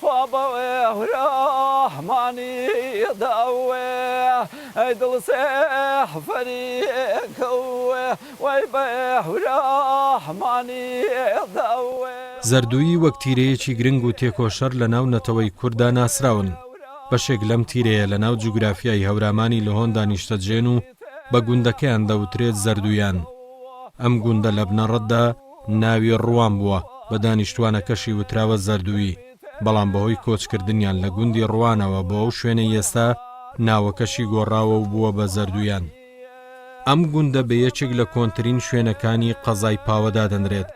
خوا بەوێ ورە مانی دە وێ ی دڵ سێ حفری کە وێ وەی بە ێ ورە مانی دە وێ. زەردوویی وەک تیرەیەکی گرنگ و تێکۆشەر لە ناو نەتەوەی کورددا ناسراون. بەشێک لەم تیرەیە لە ناو جوگرافیای هەورامانی لهۆندا نیشتەجێن و بە گوندەکەیان دەوترێت زەردوویان. ئەم گوندە لە بنەڕەتدا، ناوی ڕوان بووە، بە دانیشتووانەکەشی وتراوە زەردوویی، بەڵام بەهۆی کۆچکردنیان لە گوندی ڕوانەوە بۆ ئەو شوێنەی ئێستا، ناوەکەشی گۆڕاوە و بووە بە زەردوویان. ئەم گوندە بە یەکێک لە کۆنترین شوێنەکانی قەزای پاوە دادەنرێت،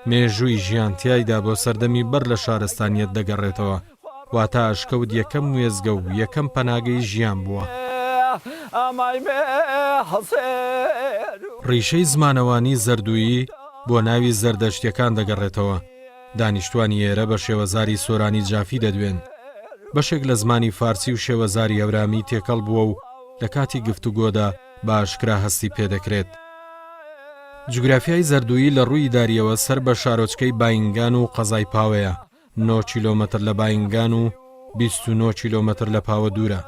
مێژووی ژیان تیایدا بۆ سەردەمی بەر لە شارستانییەت دەگەڕێتەوە. واتە ئەشکەوت یەکەم وێستگە و یەکەم پەناگەی ژیان بووە. ڕیشەی زمانەوانیی زەردوویی بۆ ناوی زەردەشتییەکان دەگەڕێتەوە، دانیشتوانی ئێرە بە شێوەزاری سۆرانی جافی دەدوێن. بەشێک لە زمانی فارسی و شێوەزاری هەورامی تێکەڵ بووە و لە کاتی گفتوگۆدا بە ئاشکرا هەستی پێ دەکرێت. جوگرافیای زەردوویی لە ڕووی ئیدارییەوە سەر بە شارۆچکەی باینگان و قەزای پاوەیە. نۆ کیلۆمەتر لە باینگان و بیست و نۆ کیلۆمەتر لە پاوە دوورە.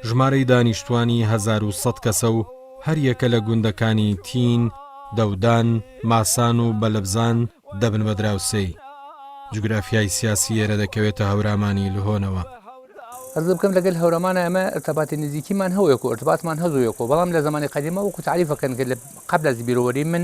ژمارەی دانیشتووانی هەزار و سەد کەسە و هەریەکە لە گوندەکانی تین، دەودان، ماسان و بەلبزان دەبن بە دراوسێی. جوگرافیای سیاسی ئێرە دەکەوێتە هەورامانی لهۆنەوە. قەت قسە بکەم لەگەل هەورامانا ئێمە ئرتەباتی نزیکیمان هەوەیەکۆ ئرتباتمان هەزۆیەکۆ بەڵام لە زەمانی قەدیما وەکو تاریف ئەکەن کە لە قەبل از بیرۆوەری من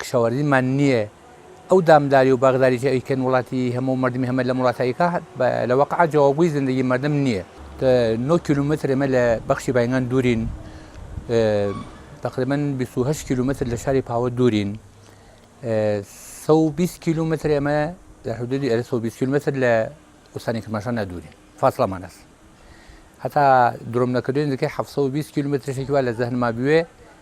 کشاوەرزیمان نیە ئەو دامداری و باغداری کە ئەیکەن وڵاتی هەموو مەردمی هەمە لەم وڵاتە ئەیکا لە واقعا جەوابگۆی زندگی مەردم نیە. نۆ کیلۆمەتر ئێمە لە بەخشی باینگان دوورین تەقریبەن بیست و هەشت کیلۆمەتر لە شاری پاوە دوورین سەد و بیست کیلۆمەتر ئێمە لە حدودی ئەرە سەد و بیست کیلۆمەتر لە ئوستانی کرماشان نەدوورین فاصلەمان هەس هەتا درۆم نەکردوین نزیکەی حەفت سەد و بیست کیلۆمەترشێکی وا لە زەهنما بوێ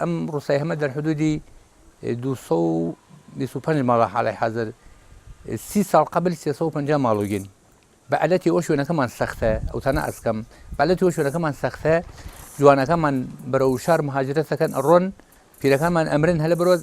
ئەم ڕوسای هەمە دەر حدودی دوو سەد و بیست و پەنج ماڵە حالەی حازر سی ساڵ قەبل سێ سەد و پەنجا ماڵوگین بە ئەلەتی ئەو شوێنەکەمان سەختە ئەو تانە ئەسکەم بەلەتی ئەو شوێنەکەمان سەختە جوانەکەمان بەرەو شار مهاجرەت دەکەن ئەڕۆن پیرەکانمان ئەمرن هەلە بەرۆز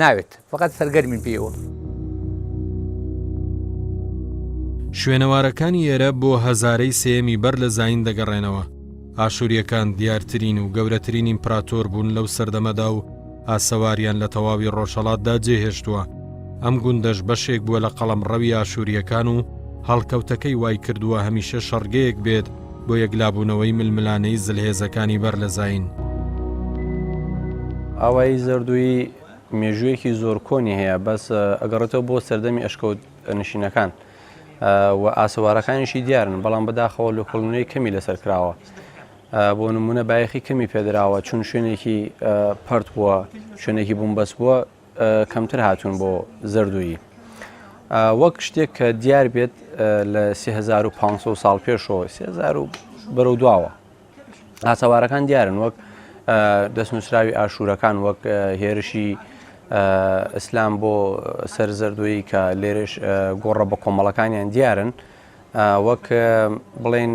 ناوێت فەقەت سەرگەرمین پێیەوە. شوێنەوارەکانی ئێرە بۆ هەزارەی سێیەمی بەر لە زایین دەگەڕێنەوە، ئاشوورییەکان دیارترین و گەورەترین ئیمپراتۆر بوون لەو سەردەمەدا و ئاسەواریان لە تەواوی ڕۆژهەڵاتدا جێهێشتووە، ئەم گوندەش بەشێک بووە لە قەڵەمڕەوی ئاشوورییەکان و هەڵکەوتەکەی وایکردووە هەمیشە شەڕگەیەک بێت بۆ یەکلابوونەوەی ململانێی زلهێزەکانی بەر لە زایین. ئاوایی زەردوویی مێژوویەکی زۆر کۆنی هەیە بەس ئەگەڕێتەوە بۆ سەردەمی ئەشکەوت نشینەکان و ئاسەوارەکانیشی دیارن بەڵام بەداخەوە لە کۆڵنوێی کەمی لەسەر کراوە بۆ نمونە بایەخی کەمی پێدراوە چون شوێنێکی پرد بووە شوێنێکی بووم بەس بووە کەمتر هاتوون بۆ زەردوویی وەک شتێک کە دیار بێت لە 3500 ساڵ پێشەوە سێزار و بەرەو دواوە ئاسەوارەکان دیارن وەک دەست نووسراوی ئاشوورەکان وەک هێرشی ئیسلام بۆ سەر زەردوویی کە لێرش گۆڕە بە کۆمەڵەکانیان دیارن وەک بڵێن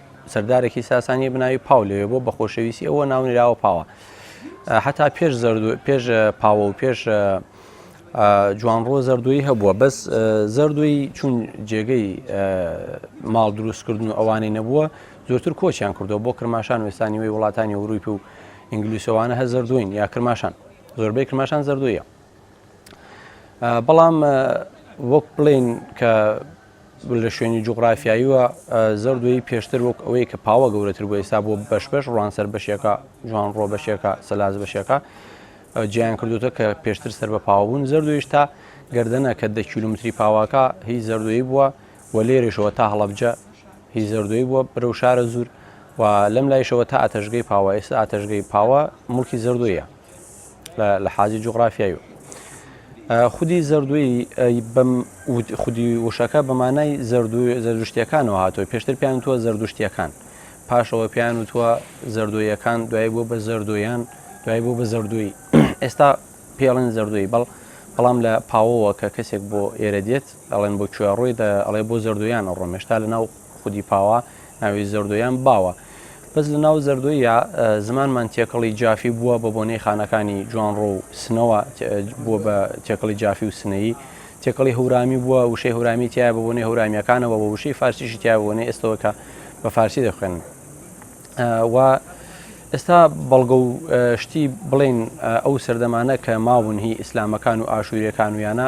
سەردارێکی ساسانی بناوی پاو لەوێ بۆ بە خۆشەویستی ئەوە ناونراوە پاوە حتا پێش زەرد پێش پاوە و پێش جوان ڕۆ زەردوی هەبووە بەس زەردوی چون جێگەی ماڵ دروستکردن و ئەوانەی نەبووە زۆرتر کۆچیان کردەوە بۆ کرماشان وستانی وی وڵاتانی ورویپ و ئینگلیسەوانە هە زەردوین یا کرماشان زۆربەی کرماشان زەردویە بەڵام وەک بڵین کە لە شوێنی جوغرافیاییوە زۆر دوێی پێشتر وەک ئەوەی کە پاوە گەورەتر بۆ ئێستا بۆ بەش بەش ڕوانسەر بەشێکە جوان ڕۆ بەشێکە سەلاز بەشێکە جیان کردوتە کە پێشتر سەر بە پاوەبوون زەردویش تا گردنە کە دە کیلومتری پاواکە هی زەردوی بووە و لێرەشەوە تا هەڵبجە هی زەردوی بووە برەو شارە زور و لەم لایشەوە تا ئاتەشگەی پاوە ئێستا ئاتەشگەی پاوە ملکی زەردویە لە حاجی جوغرافیایی و خودی زەردووی بەم خودی وشەکە بەمانای زەردوو زەردشتیەکانەوە هاتووە پێشتر پیان تووە زەردشتیەکان پاشەوە پیان و تووە زەردۆیەکان دوای بۆ بە زەردۆیان دوای بۆ بە زەردووی ئێستا پێڵێن زەردووی بەڵ بەڵام لە پاوەوە کە کەسێک بۆ ئێرە دێت ئەڵێن بۆ کوێ ڕۆی ئەڵێ بۆ زەردویان ڕۆمێشتا لە ناو خودی پاوە ناوی زەردۆ یان باوە. بەس لە ناو زەردۆییا زمانمان تێکەڵی جافی بووە بە بۆنەی خانەکانی جوانڕۆ و سنەوە بووە بە تێکەڵی جافی و سنەیی. تێکەڵی هەورامی بووە وشەی هەورامی تایە بە بۆنەی هەورامیەکانەوە بە وشەی فارسیشی تایە بە بۆنەی ئێستەوە کە بە فارسی دەخوێن. و ئێستا بەڵگە و شتی بڵین ئەو سەردەمانە کە ماون هی ئیسلامەکان و ئاشووریەکان و یانە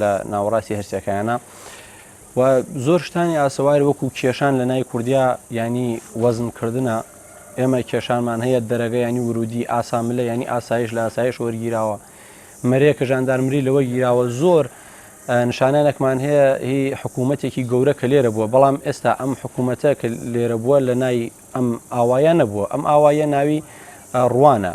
لە ناوەڕاستی هەرسەکانە و زۆر شتانی ئاسەواری وەکو کێشان لە نای کوردیا ینی وەزمکردە ئێمە کێشانمان هەیە دەرەگە ینی ورودی ئاساملە ینی ئاسایش لە ئاسایش وەرگیراوە مەرێکە ژاندارمری لەوە گیراوە زۆر نیشانانێکمان هەیە هی حکوومەتێکی گەورە کە لێرە بووە بەڵام ئێستا ئەم حکوومەتە کە لێرە بووە لە نای ئەم ئاوایە نەبووە ئەم ئاوایە ناوی ڕوانە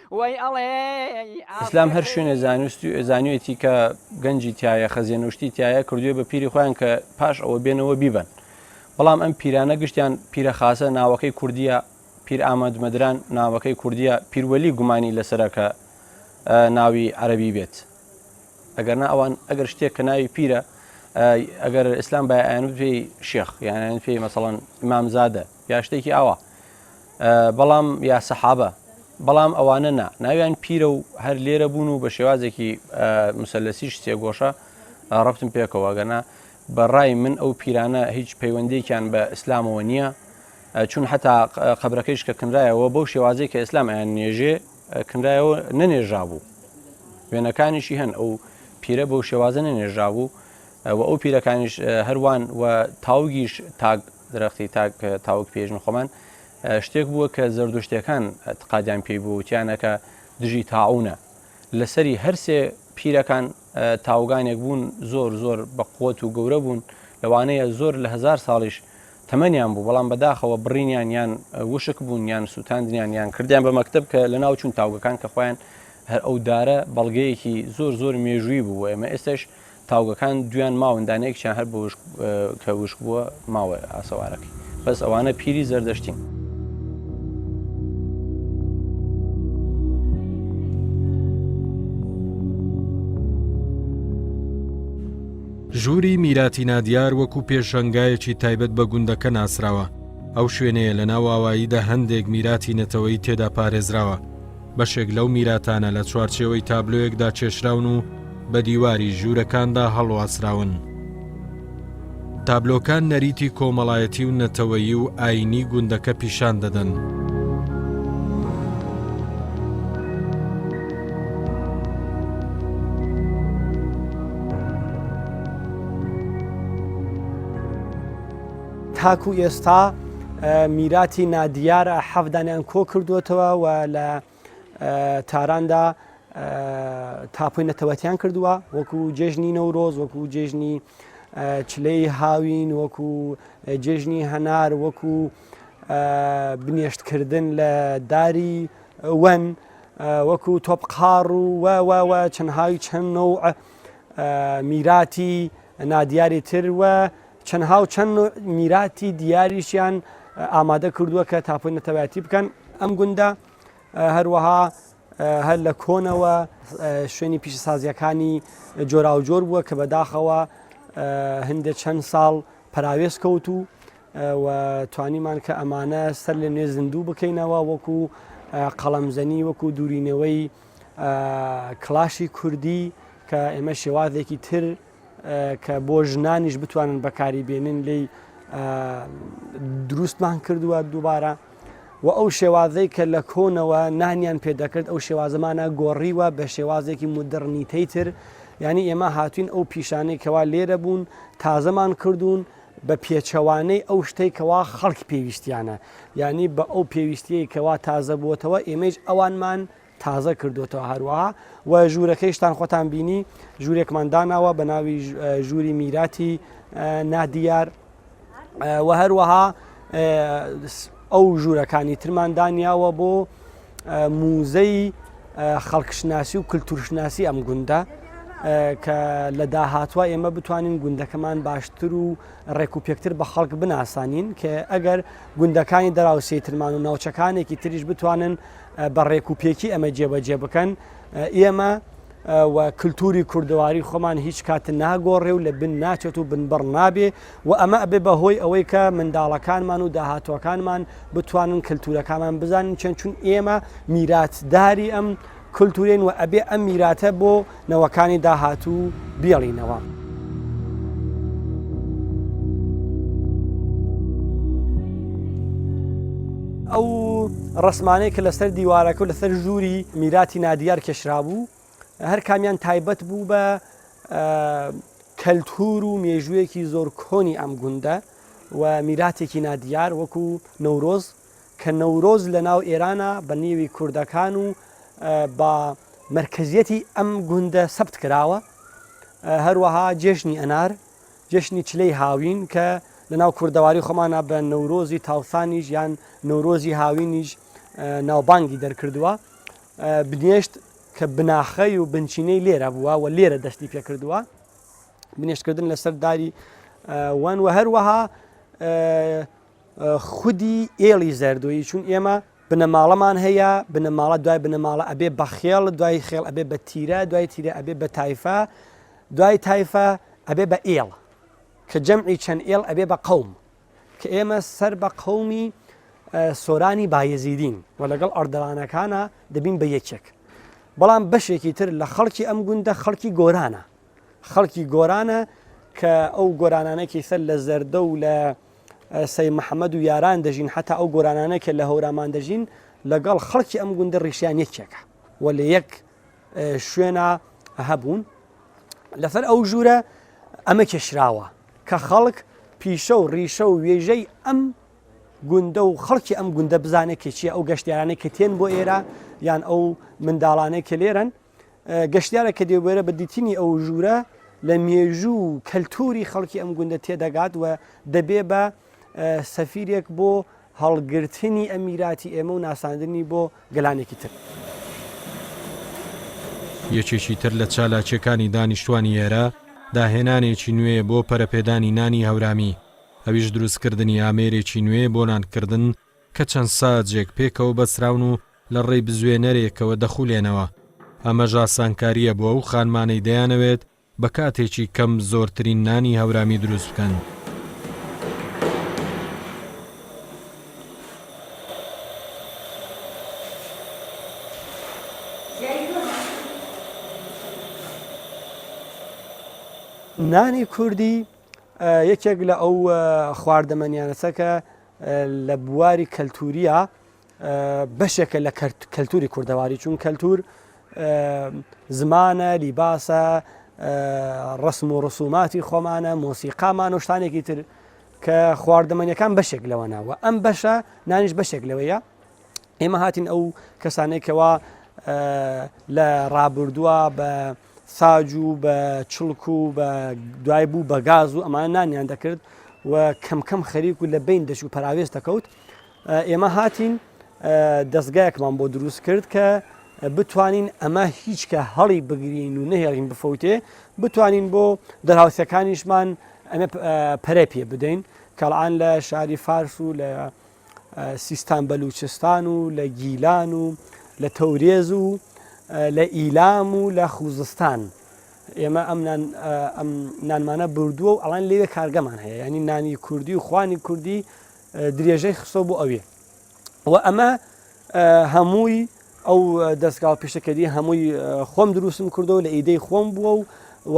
وەی ئەڵێ ئیسلام هەر شوێنێ زانستی و زانیوێتی کە گەنجی تایە خەزیێنە و شتی تایە کردوێ بە پیری خۆیان کە پاش ئەوە بێنەوە بیبن بەڵام ئەم پیرانە گشتیان پیرە خاصە ناوەکەی کوردیە پیر ئامەد مەدران ناوەکەی کوردیە پیروەلی گومانی لەسەرەکە ناوی عەربی بێت ئەگەرنا ئەوان ئەگەر شتێک کە ناوی پیرە ئەگەر ئیسلام بایان پێی شێخ یانیان پێی مەسەڵەن ئمامزادە یا شتێکی ئاوا بەڵام یا سەحابە بەڵام ئەوانە نا ناویان پیرە و هەر لێرە بوون و بە شێوازێکی مسلسیش سێگۆشە ڕفتم پێکەوە گەنا بەڕای من ئەو پیرانە هیچ پەیوەندێکیان بە ئیسلامەوە نییە چون حتا قبرەکەیش کە کنرایەوە بەو شێوازی کە ئسلام ئەیان نێژێ کنرایەوە نەنێژا بوو وێنەکانیشی هەن ئەو پیرە بەو شێوازە نەنێژا بوو و ئەو پیرەکانیش هەروان و تاوگیش تاک درەختی تاک تاوک پێژن خۆمان شتێک بووە کە زەردوشتەکان تقادیان پێی بوو وتیانەکە دژی تاعونە لەسەری هەرسێ پیرەکان تاوگانێک بوون زۆر زۆر بەقوت و گەورە بوون لەوانەیە زۆر لە هزار ساڵیش تەمەنیان بوو بەڵام بەداخەوە بڕینیان یان وشک بوون یان سووتاندنیان یان کردیان بە مەکتب کە لە ناو چوون تاوگەکان کە خۆیان هەر ئەو دارە بەڵگەیەکی زۆر زۆر مێژووی بوو ئێمە ئێستش تاوگەکان دویان ماون دانەیەکیان هەر بە وشک کە وشک بووە ماوە ئاسەوارەکەی بەس ئەوانە پیری زەردەشتین. ژووری میراتی نادیار وەکو پێشەنگایەکی تایبەت بە گوندەکە ناسراوە ئەو شوێنەیە لە ناو ئاواییدا هەندێک میراتی نەتەوەی تێدا پارێزراوە بەشێک لەو میراتانە لە چوارچێوەی تابلۆیەکدا کێشراون و بە دیواری ژوورەکاندا هەڵواسراون. تابلۆکان نەریتی کۆمەڵایەتی و نەتەوەیی و ئاینی گوندەکە پیشان دەدەن. تاکو ئێستا میراتی نادیار حەفدانیان کۆ کردووەتەوە و لە تاراندا تاپۆی نەتەوەتیان کردووە وەکو جێژنی نەورۆز وەکو جێژنی چلەی هاوین وەکو جێژنی هەنار وەکو بنیێشتکردن لە داری وەن وەکو تۆپقار و وەوەوە چەندهاوی چەند نەوع میراتی نادیاری تر وە چەندها و چەند نوع میراتی دیاریشیان ئامادە کردووە کە تاپۆی نەتەوایەتی بکەن ئەم گوندە هەروەها هەر لە کۆنەوە شوێنی پیشەسازیەکانی جۆراوجۆر بووە کە بەداخەوە هەندێک چەند ساڵ پراوێز کەوت و و توانیمان کە ئەمانە سەر لە نوێ زیندوو بکەینەوە وەکو قەڵەمزەنی وەکو دوورینەوەی کلاشی کوردی کە ئێمە شێوازێکی تر کە بۆ ژنانیش بتوانن بەکاری بێنن لی دروستمان کردووە دووبارە و ئەو شێوازەی کە لە کۆنەوە نانیان پێدەکرد ئەو شێوازەمانە گۆڕیوە بە شێوازێکی مدرڕنیتەی تر ینی ئێمە هاتوین ئەو پیشانەی کەوا لێرە بوون تازەمان کردوون بە پێچەوانەی ئەو شتەی کەوا خەڵک پێویستیانە ینی بە ئەو پێویستیەی کەوا تازە بووتەوە ئێمەش ئەوانمان تازە کردووەتەوە هەروەها و ژوورەکەیشتان خۆتان بینی ژوورێکمان داناوە بە ناوی ژووری میراتی نادیار و هەروەها ئەو ژوورەکانی ترمان دانیاوە بۆ موزەی خەڵکشناسی و کللتورشناسی ئەم گوندە کە لە داهاتوە ئێمە بتوانین گوندەکەمان باشتر و ڕێک و پێکتر بە خەڵک بناسانین کە ئەگەر گوندەکانی دراوسێترمان و ناوچەکانێکی تریش بتوانن بە ڕێک و پێکی ئەمە جێبەجێ بکەن ئێمە و کللتوری کوردەواری خۆمان هیچ کات ناگۆڕێ و لە بن ناچێت و بنبڕ نابێ و ئەمە ئەبێ بە هۆی ئەوەی کە منداڵەکانمان و داهاتوەکانمان بتوانن کللتورەکانمان بزانین چەند چون ئێمە میراتداری ئەم کللتورێن و ئەبێ ئەم میراتە بۆ نەوەکانی داهاتوو بیڵینەوە. ئەو ڕسمانەی کە لەسەر دیوارەکە و لەسەر ژووری میراتی نادیار کێشرابوو هەر کامیان تایبەت بوو بە کەلتور و مێژوویەکی زۆر کۆنی ئەم گوندە و میراتێکی نادیار وەکو نەورۆز کە نەورۆز لە ناو ئێرانە بە نێوی کوردەکان و بە مەرکەزیەتی ئەم گوندە سەبت کراوە هەروەها جێشنی ئەنار جشنی چلەی هاوین کە لە ناو کوردەواری خۆمانە بە نەورۆزی تاوسانیش یان نەورۆزی هاوینیش ناوبانگی دەرکردووە بنێشت کە بناخەی و بنچینەی لێرە بووە و لێرە دەستی پێکردووە بنێشتکردن لەسەر داری وان و هەروەها خودی ئێڵی زەردۆیی چون ئێمە بنەماڵەمان هەیە بنەماڵە دوای بنەماڵە ئەبێ بە خێڵ دوای خێڵ ئەبێ بە تیرە دوای تیرە ئەبێ بە تایفە دوای تایفە ئەبێ بە ئێڵ کە جەمعی چەند ئێڵ ئەبێ بە قەوم کە ئێمە سەر بە قەومی سۆرانی بایەزیدین و لەگەڵ ئەردەوانەکانە دەبین بە یەکێک بەڵام بەشێکی تر لە خەڵکی ئەم گوندە خەڵکی گۆرانە خەڵکی گۆرانە کە ئەو گۆرانانێکی سەر لە زەردە و لە سەید محەمەد و یاران دەژین حەتا ئەو گۆرانانە کە لە هەورامان دەژین لەگەڵ خەڵکی ئەم گوندە ڕیشیان یەکێکە و لە یەک شوێنە هەبوون لەسەر ئەو ژوورە ئەمە کێشراوە کە خەڵک پیشە و ڕیشە و وێژەی ئەم گوندە و خەڵکی ئەم گوندە بزانێت کە چیە ئەو گەشتیارانە کە تێن بۆ ئێرە یان ئەو منداڵانەی کە لێرن گەشتیارێک کە دێبوێرە بە دیتنی ئەو ژوورە لە مێژوو و کەلتوری خەڵکی ئەم گوندە تێدەگات و دەبێ بە سەفیرێک بۆ هەڵگرتنی ئەمیراتی ئێمە و ناساندنی بۆ گەلانێکی تر. یەکێکی تر لە چالاکیەکانی دانیشتوانی ئێرە داهێنانێکی نوێیە بۆ پەرەپێدانی نانی هەورامی، ئەویش دروستکردنی ئامێرێکی نوێیە بۆ نانکردن کە چەند ساجێک پێکەوە بەستراون و لە ڕێی بزوێنەرێکەوە دەخولێنەوە، ئەمەش ئاسانکارییە بۆ ئەو خانمانەی دەیانەوێت بە کاتێکی کەم زۆرترین نانی هەورامی دروست بکەن. نانی کوردی یەکێک لە ئەو خواردەمەنیانەسە کە لە بواری کەلتورییا بەشێکە لە کەلتوری کوردەواری چون کەلتور زمانە لیباسە ڕسم و ڕسوماتی خۆمانە مۆسیقامان و شتانێکی تر کە خواردەمەنیەکان بەشێک لەوەناوە ئەم بەشە نانیش بەشێک لەوەیە ئێمە هاتین ئەو کەسانێکەوە لە ڕابردووە بە ساج و بە چڵک و بە دوای بوو بە گاز و ئەمانە نانیان دەکرد و کەمکەم خەریک و لە بین دەچ و پەراوێز دەکەوت ئێمە هاتین دەستگایەکمان بۆ دروست کرد کە بتوانین ئەمە هیچکە هەڵی بگرین و نەهێڵین بفەوتێ بتوانین بۆ دەراوسەکانیشمان ئەمە پەرە پێ بدەین کەڵان لە شاری فارس و لە سیستان بەلووچستان و لە گیلان و لە تەورێز و لە ئیلام و لە خوزستان ئێمە ئەم نانمانە بردووە و ئەڵان لێوێ کارگەمان هەیە ینی نانی کوردی و خوانی کوردی درێژەی خستۆ بۆ ئەوێ و ئەمە هەمووی ئەو دەستگا و پیشەکەری هەمووی خۆم دروستم کردەوە لە ئیدەی خۆم بووە و و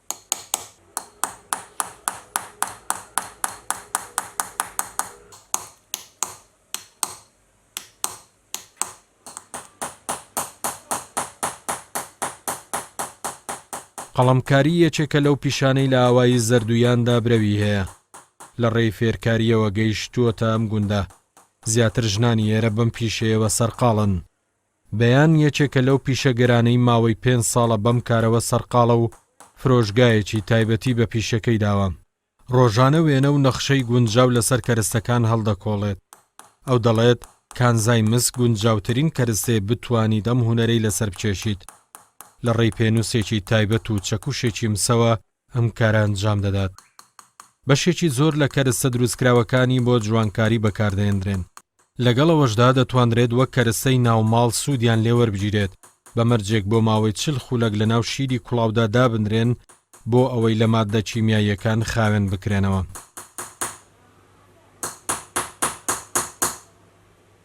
قەڵەمکاری یەکێکە لەو پیشانەی لە ئاوایی زەردوویاندا برەوی هەیە. لە ڕێی فێرکارییەوە گەیشتووەتە ئەم گوندە. زیاتر ژنانی ئێرە بەم پیشەیەوە سەرقاڵن. بەیان یەکێکە لەو پیشەگەرانەی ماوەی پێنج ساڵە بەم کارەوە سەرقاڵە و فرۆشگایەکی تایبەتی بە پیشەکەی داوە، ڕۆژانە وێنە و نەخشەی گونجاو لەسەر کەرستەکان هەڵدەکۆڵێت. ئەو دەڵێت، کانزای مس گونجاوترین کەرستەیە بتوانیت ئەم هونەرەی لەسەر بکێشیت. لە ڕێی پێنووسێکی تایبەت و چەکوشێکی مسەوە ئەم کارە ئەنجام دەدات. بەشێکی زۆر لە کەرستە دروستکراوەکانی بۆ جوانکاری بەکاردەهێندرێن. لەگەڵ ئەوەشدا دەتوانرێت وەک کەرستەی ناو ماڵ سوودیان لێ وەربگیرێت، بە مەرجێک بۆ ماوەی چل خولەک لەناو شیری کوڵاودا دابنرێن بۆ ئەوەی لە ماددە کیمیاییەکان خاوێن بکرێنەوە.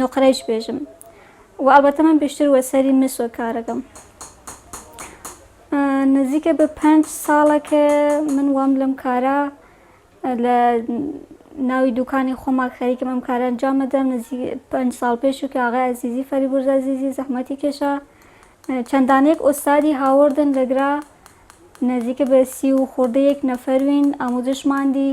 نوقرەیش بێژم و ئەڵبەتە من بێشتر وە سەری مسۆ کارەکەم نزیکە بە پێنج ساڵە کە من وام لەم کارە لە ناوی دوکانی خۆمان خەریکم ئەم کارە ئەنجام بدەم نزیک پێنج ساڵ پێش و کە ئاغای عزیزی فەریبورز عزیزی زەحمەتی کێشا چەندانێک ئوستادی هاوردن لەگرا نزیکە بە سی و خۆردەیەک نەفەروین ئاموزشماندی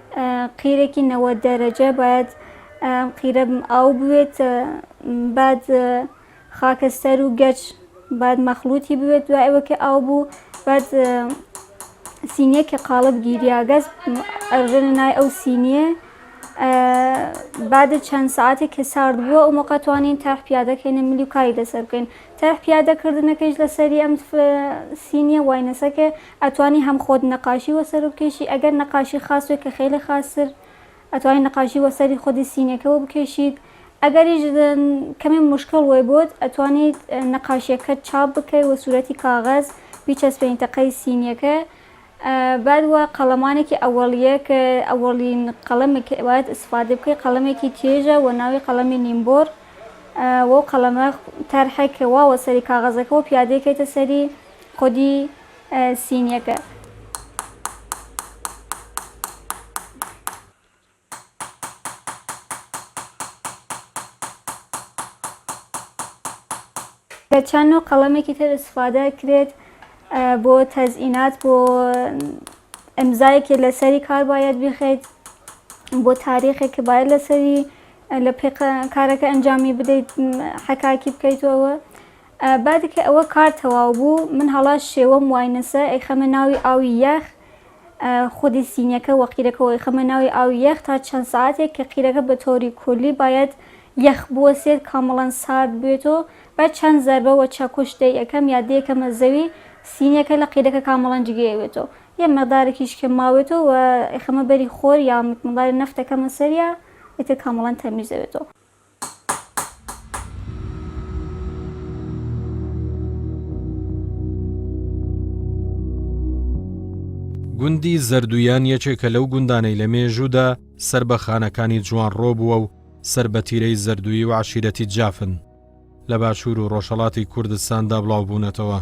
قیرێکی نەوەد دەرەجە باید ئەم قیرە ئاو بوێت بعد خاکەستەر و گەچ باید مەخلوتی بوێت دوای ئەوە کە ئاو بوو بعد سینیە کە قاڵب گیریاگەز ئەرژێنە نای ئەو سینیە بعد چەند ساعتێک کە سارد بووە ئەو مەقە توانین تەرح پیادەکەینە ملی و کاری لەسەر بکەین تەرح پیادەکردنەکەیش لەسەری ئەم سینیە واینەسەکە ئەتوانی هەم خۆت نەقاشی وەسەر بکێشی ئەگەر نەقاشی خاس بێت کە خێلی خاستر ئەتوانی نەقاشی وەسەری خودی سینەکەوە بکێشیت ئەگەریش کەمێ مشکڵ وەی بۆت ئەتوانیت نەقاشیەکەت چاپ بکەی وە سورەتی کاغەز بیچەسپێنیتە قەی سینیەکە بعد وە قەڵەمانێکی ئەوەڵیە کە ئەوەڵین قەڵەمێک باید ئیسفادە بکەی قەڵەمێکی چێژە وە ناوی قەڵەمی نیمبۆر وەو قەڵەمە تەرحێک وا وەسەری کاغەزەکەوە پیادەی کەیتە سەری خودی سینیەکە. لە چەن و قەڵەمێکی تر استفادە کرێت بۆ تەزئینات بۆ ئەمزایەکی لەسەری کار باید بخەیت بۆ تاریخێک باید لەسەری لە پێ کارەکە ئەنجامی بدەیت حەکاکی بکەیتەوە بادی کە ئەوە کار تەواو بوو من هەڵە شێوەم وای نەسە ئەیخەمە ناوی ئاوی یەخ خودی سینیەکە وە قیرەکەوە ئەیخەمە ناوی ئاوی یەخ تا چەند سەعاتێک کە قیرەکە بە تۆری کولی بایەد یەخ بوەسێت کامڵەن سارد بوێت و بە چەند زەربە وە چەکوش دەی ئەکەم یا دەی ئەکەمە زەوی سینیەکە لە قیرەکە کامڵەن جگەی ئەوێت و یە مقدارێکیش کە ماوێت و ئەیخەمە بەری خۆر یا مقدارێ نەفت ئەکەمە سەریا ئیتر کامڵەن تەمیز ئەوێت. گوندی زەردویان یەکێکە لەو گوندانەی لە مێژوودا سەر بە خانەکانی جوان ڕۆبووە و سەر بە تیرەی زەردوی و عشیرەتی جافن لە باشوور و ڕۆژهڵاتی کوردستاندا بڵاو بوونەتەوە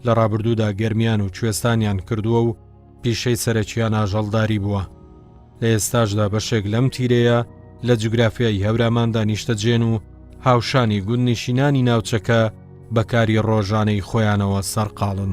لە ڕابردوودا گەرمیان و کوێستانیان کردووە و پیشەی سەرەکیان ئاژەڵداری بووە. لە ئێستاشدا بەشێک لەم تیرەیە لە جوگرافیایی هەوراماندا نیشتەجێن و هاوشانی گوندنیشینانی ناوچەکە بە کاری ڕۆژانەی خۆیانەوە سەرقاڵن.